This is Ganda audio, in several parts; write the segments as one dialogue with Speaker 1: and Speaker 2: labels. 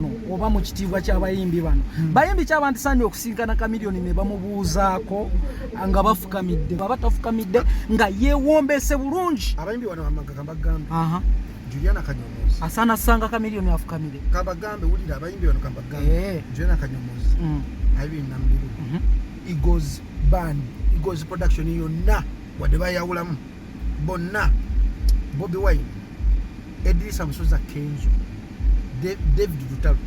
Speaker 1: oba mu kitiibwa ky'abayimbi bano hmm. bayimbi kyaba nti sanya okusinkana kamiliyoni ne bamubuuzaako nga bafukamidde baba tafukamidde nga yeewombese bulungi abayimbi bano amagaka
Speaker 2: mbagambe juliana kanyomozi asana sanga kamiliyoni
Speaker 1: afukamire kabagambe wulira
Speaker 2: abayimbi bano kambagambe eh. juliana kanyomozi hmm. aibiri nambiru mhm. igos ban igos production yonna wadde bayawulamu bonna bobi wine edirisa musoza kenzo david lutalo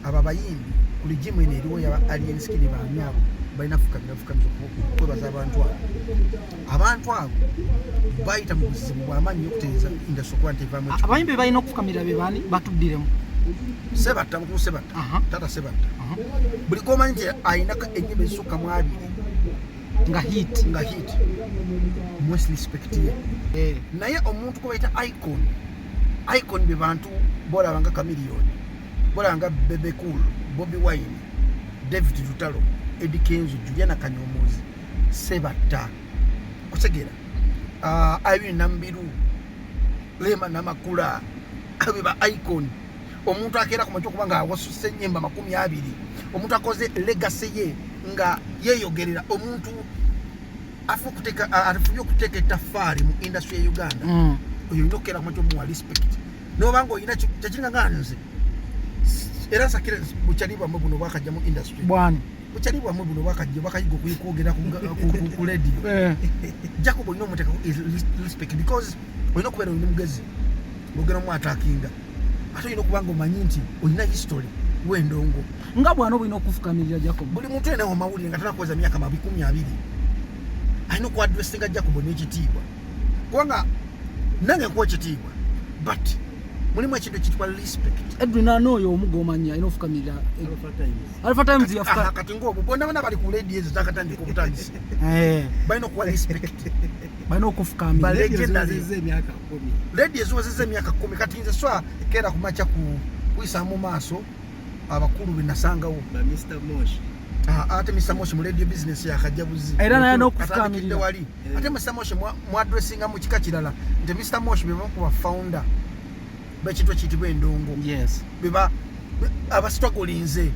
Speaker 2: abo abayimbi ku ligimu eno eriwo yaba alien skin baani abo balina fukamira fukamira kwebaza abantu abo abantu abo bayita mu buzibu bwamaanyi okutereeza indasi okuba nti evamu abayimbi balina okufukamira
Speaker 1: be baani batuddiremu sebatta
Speaker 2: mukulu sebatta tata sebatta buli komanyi nti ayinako enyimba ezisukka mu abiri nga
Speaker 1: hit nga hit
Speaker 2: mwes respect ye eh. naye omuntu kubaita icon icon be bantu bolaba nga chameleon bolaba nga bebe cool bobi wine david lutalo edi kenzo juliana kanyomozi sebatta kutegera uh, ah, irene nambiru lema namakula abe ba icon omuntu akeera ku makya okuba nga awasusa enyimba makumi abiri omuntu akoze legasi ye nga yeyogerera omuntu afunye okuteeka etafaari mu industry ya uganda mm. oyo olina okukeera ku makya omuwa respect noba nga olina kyekiringa nga nze era nsakire bukyali bwamwe buno bwakajja mu industry bwani bukyali bwamwe buno bwakajja bakayiga okwogera ku lediyo eh. jakuba olina omuteekaku respect because olina okubeera oli mugezi ngogera omu atakinga ate olina okuba nga omanyi nti olina history wendongo nga bwana obulina
Speaker 1: okufukamirira jacob buli muntu enawo mawulire
Speaker 2: nga tanakuweza myaka mabikumi abiri alina okuadressinga jacob nekitiibwa kubanga nange nkuwa ekitiibwa but mulimu ekintu ekitwa respect edwin ana oyo omu
Speaker 1: gomanya alina ofukamirira alpha times yafukakati ngaobwo bonna bona bali
Speaker 2: ku ledi ezo zakatandika obutandisi eh. balina okuwa respect balina
Speaker 1: okufukamira ledi
Speaker 2: eziwezeza emyaka kumi kati nze swa keera kumakya kuyisa mu maaso abakulu benasangawo
Speaker 3: ah, ate mr
Speaker 2: moshi mu radio business yakajja buzi era naye nokufukamirira
Speaker 1: wali eh. ate mr
Speaker 2: moshi mwadressinga mu kika kirala nti mr moshi bebakuba founder bakintu ekiyitibwa endongo beba abasitwagolinze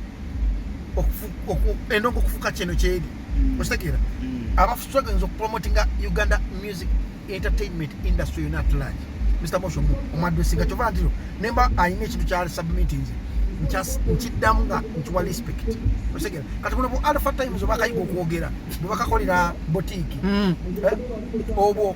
Speaker 2: endongo okufuka kyeno kyeri mm. okitegeera mm. abasitwagolinze okupromotinga uganda music entertainment industry yona atulage mr moshomu omwadwesinga kyova ntiro nemba alina ekintu kya submittinze nkiddamu nga nkiwa respect osegera kati buno bu alpha times obakayiga okwogera bwebakakolera botiiki mm. eh? obwo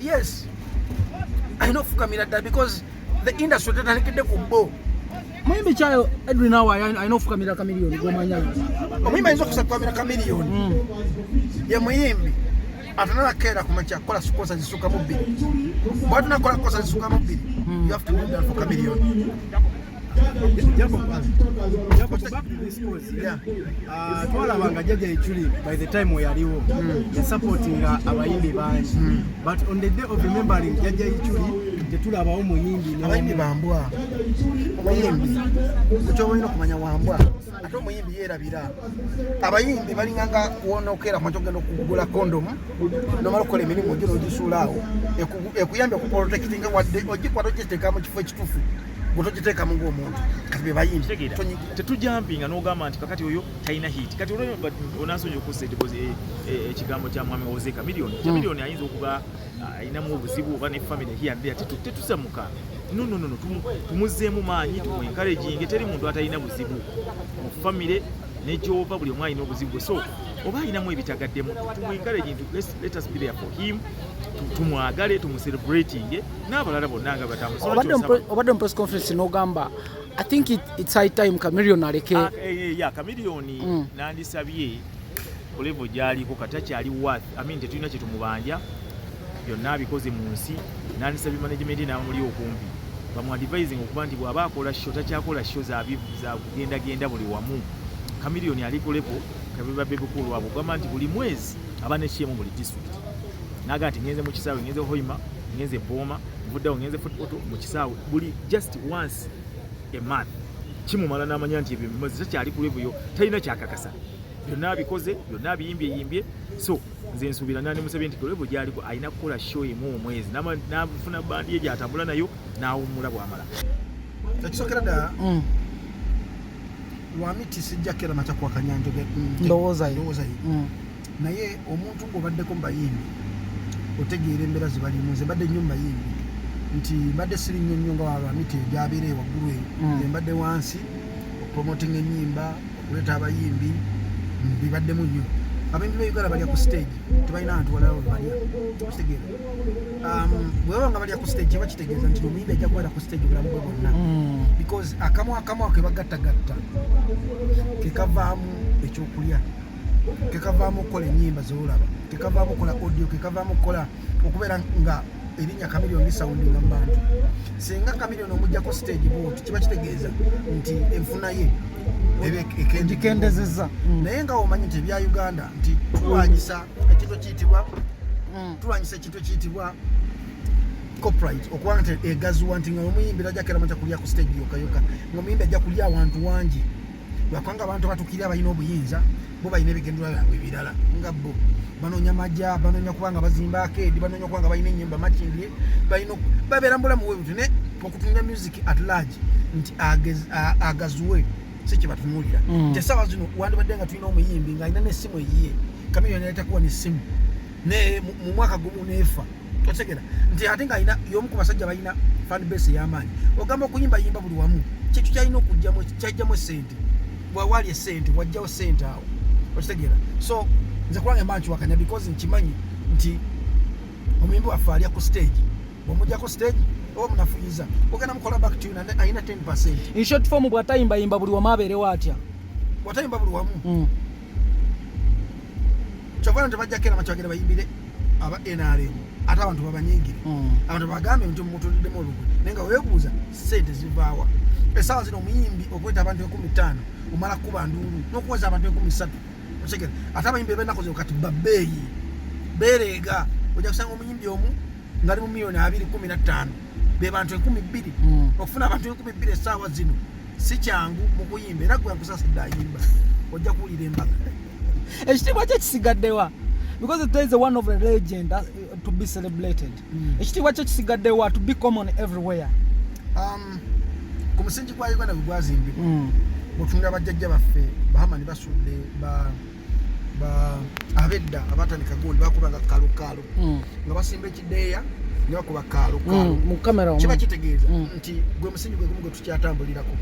Speaker 1: yes
Speaker 2: alina okufukamira ddala because the industry tetandikidde ku bo muyimbi kyayo
Speaker 1: edwin awa alina okufukamira kamiliyoni gomanya omuyimbi ayinza
Speaker 2: okusakamira kamiliyoni hmm. ye muyimbi atanalakeera kumakya kukola kosa zisuka mu bbiri bwatunakola kosa zisuka mu bbiri hmm. you have to do that for kamiliyoni
Speaker 3: Ah, twalaba nga jaja eculi by the time weyaliwo hmm. yasupportinga abayimbi bangi hmm. but on the day of remembering jaja eculi tetulabawo muyimbi abayimbi bambwa
Speaker 2: omuyimbi ekyobalina okumanya wambwa ate omuyimbi yerabira abayimbi balinganga wonokera kumaca okugenda okugula kondomu nomala okukola emirimu gyo nogisuulaawo ekuyambye okuprotekitinga wadde ogikwata okiteekamu kifo ekitufu gutogiteekamu ngaomuntu kati bebayimbi tetujampinga
Speaker 4: nogamba nti kakati oyo talina hit kati onansonyi okusa eh, eh, ekigambo kya mwami oze kamilioni hmm. kamilioni ayinza okuba ah, alinamu obuzibu oba ne family hiyandea tetusamuka nononono tumuzeemu maanyi tumuenkaraginge teri muntu atalina buzibu mu famire negyova buli omu alina obuzibu bwe so oba alinamu ebitagaddemu tumuenkaraginge let us be there for him tumwagale tumucelebratinge tu n'abalala bonna nga batambuzobadde
Speaker 1: mu press conference n'ogamba i think it, it's high time chameleon aleke ah, eh, eh, ya chameleon
Speaker 4: mm. nandisabye ku level gyaliko kati akyali worth i mean tetulina kyetumubanja byonna abikoze mu nsi nandisabye management n'amuli okumpi bamuadivising okuba nti bw'aba akola sho takyakola sho zakugendagenda buli wamu chameleon ali ku level kabiba bebikulwabwe ogamba nti buli mwezi aba nekyemu buli district naga nti ngenze mu kisaawe ngenze hoima ngenze booma vuddawo ngenze fotopoto mu kisaawe buli just once a month kimumala n'amanya nti ebyo bimazi takyali ku levuyo talina kyakakasa byonna abikoze byonna abiyimbye yimbye so nze nsuubira nandi musabye nti kulevu gyaliko alina kukola show emu omwezi nafuna bandi ye gyatambula nayo n'awummula bwamala ekisokera
Speaker 2: ddala mm. lwamiti sijjakera matakwakanya njoge ndowoozayo
Speaker 1: mm.
Speaker 2: naye omuntu ng'obaddeko mu bayimbi otegeera embeera ze balimu nze mbadde nnyo mu bayimbi nti mbadde siri nnyo nnyo nga wabamiti egyabeera ewaggulu eyo hmm. nze mbadde wansi okupromotinga ennyimba okuleeta abayimbi bibaddemu nnyo abayimbi ba uganda balya ku stage tebalina bantu walala webalya kitegeera um, bwebaba nga balya ku stage kiba kitegeeza nti omuyimbi ajja kubala ku stage obulamu bwe bwonna hmm. because akamu akamu akebagattagatta kekavaamu ekyokulya kekavaamu okukola enyimba zolaba kekavaamu okukola audio kekavaamu okukola okubeera nga erinya kamilion lisawundinga mu bantu singa kamilion omujjako stage boot kiba kitegeeza nti enfuna ye egikendezeza
Speaker 1: mm. naye nga omanyi nti
Speaker 2: ebya uganda nti tulwanyisa ekintu ekiyitibwa mm. tulwanyisa ekintu ekiyitibwa copyright okuba nti egaziwa nti nga omuyimbira ajakera maja kulya ku stage yoka yoka nga omuyimbi ajja kulya awantu wangi lwakwanga abantu batukira balina obuyinza bo balina ebigendera byabwe ebirala nga bo banonya maja banonya kubanga bazimba akedi banonya kubanga balina enyimba makindye balina babeera mubulamu bwebuti ne okutunga music at large nti agazuwe si kyebatunulira mm. nti esawa zino wandibadde nga tulina omuyimbi nga alina nesimu eyiye kamiyoni yaletakuwa nesimu ne mu mwaka gumu nefa otegera nti ate nga ina yomu ku basajja balina fan base y'amaanyi ogamba okuyimba yimba buli wamu kyekyo kyalina okujjamu kyajjamu esente wawali esente wajjawo sente awo okitegera so nze kulanga emba nkiwakanya because nkimanyi nti omuyimbi waffe alya ku stage omujjako stage oba munafuyiza ogenda mukola back to alina 10 percent in short form
Speaker 1: bwatayimbayimba buli wamu abeerewo atya bwatayimba buli
Speaker 2: wamu mm. kyova nti bajja kera makyagera bayimbire aba nrm ate abantu babanyingire hmm. abantu bagambe nti mutuliddemu olugwe naye nga webuuza sente zivaawa esaawa zino omuyimbi okweta abantu ekumi ttaano omala kukuba nduulu nokuweza abantu ekumi ssatu otegera ate abayimbi ebenaku zino kati babeeyi bereega ojja kusanga omuyimbi omu ngalimu miliyoni abiri kumi na ttaano be bantu enkumi bbiri hmm. okufuna abantu enkumi bbiri essaawa zino si kyangu mu kuyimba era gwe nkusasidde ayimba ojja kuwulira embaga ekitiibwa
Speaker 1: kye kisigaddewa because there is a one of the legend uh, to be celebrated hmm. ekitiibwa kye kisigaddewa to be common everywhere um,
Speaker 2: ku musingi gwa uganda gwe gwazimbibwa hmm. mutunula bajjajja baffe bahamani basudde ba abedda abatandika gundi bakubanga kalukalu mm. nga basimba ekideeya nebakuba kalukalu mm, mm. kiba kitegeeza nti gwe musingi gwe gumu gwe tukyatambulirako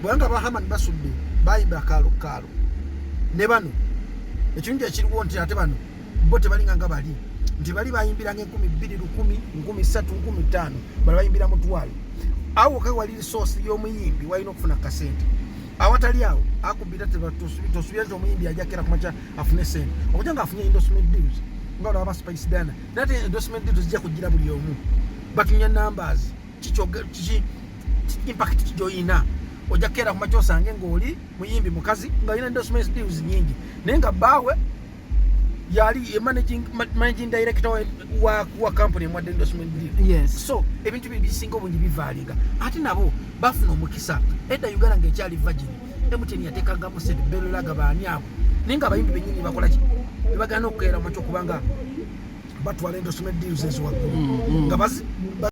Speaker 2: bwanga bahaman basudde bayimba kalukalu ne bano ekirungi ekiriwo nti ate bano bo tebalinga nga bali nti bali bayimbiranga enkumi bbiri lukumi nkumi ssatu nkumi ttaano bala bayimbira mutwalo awo kawaliri soosi y'omuyimbi walina okufuna kasente awatali awo akubira tosubira nti omuyimbi ajakera kumaca afune sente okuja nga afunye endorsement deals nga olaba ba spice dana nate endorsement deals zijja kujira buli omu batunya numbers kiki impact kijoyina oja kera kumaca osange ngaoli muyimbi mukazi nga olina endorsement deals nyingi naye nga baawe yali managing, managing director wa, wa, wa company mwa endorsement deal yes. so ebintu bye
Speaker 1: bisinga
Speaker 2: obungi bivaalinga ate nabo bafuna omukisa edda uganda ngaekyali virgin emuteni yatekangamu sente belolaga baani abo naye nga abayimbi benyini bakolaki bebagana okukeera makyo kubanga batwala endorsement deals eziwaggulu mm, mm. nga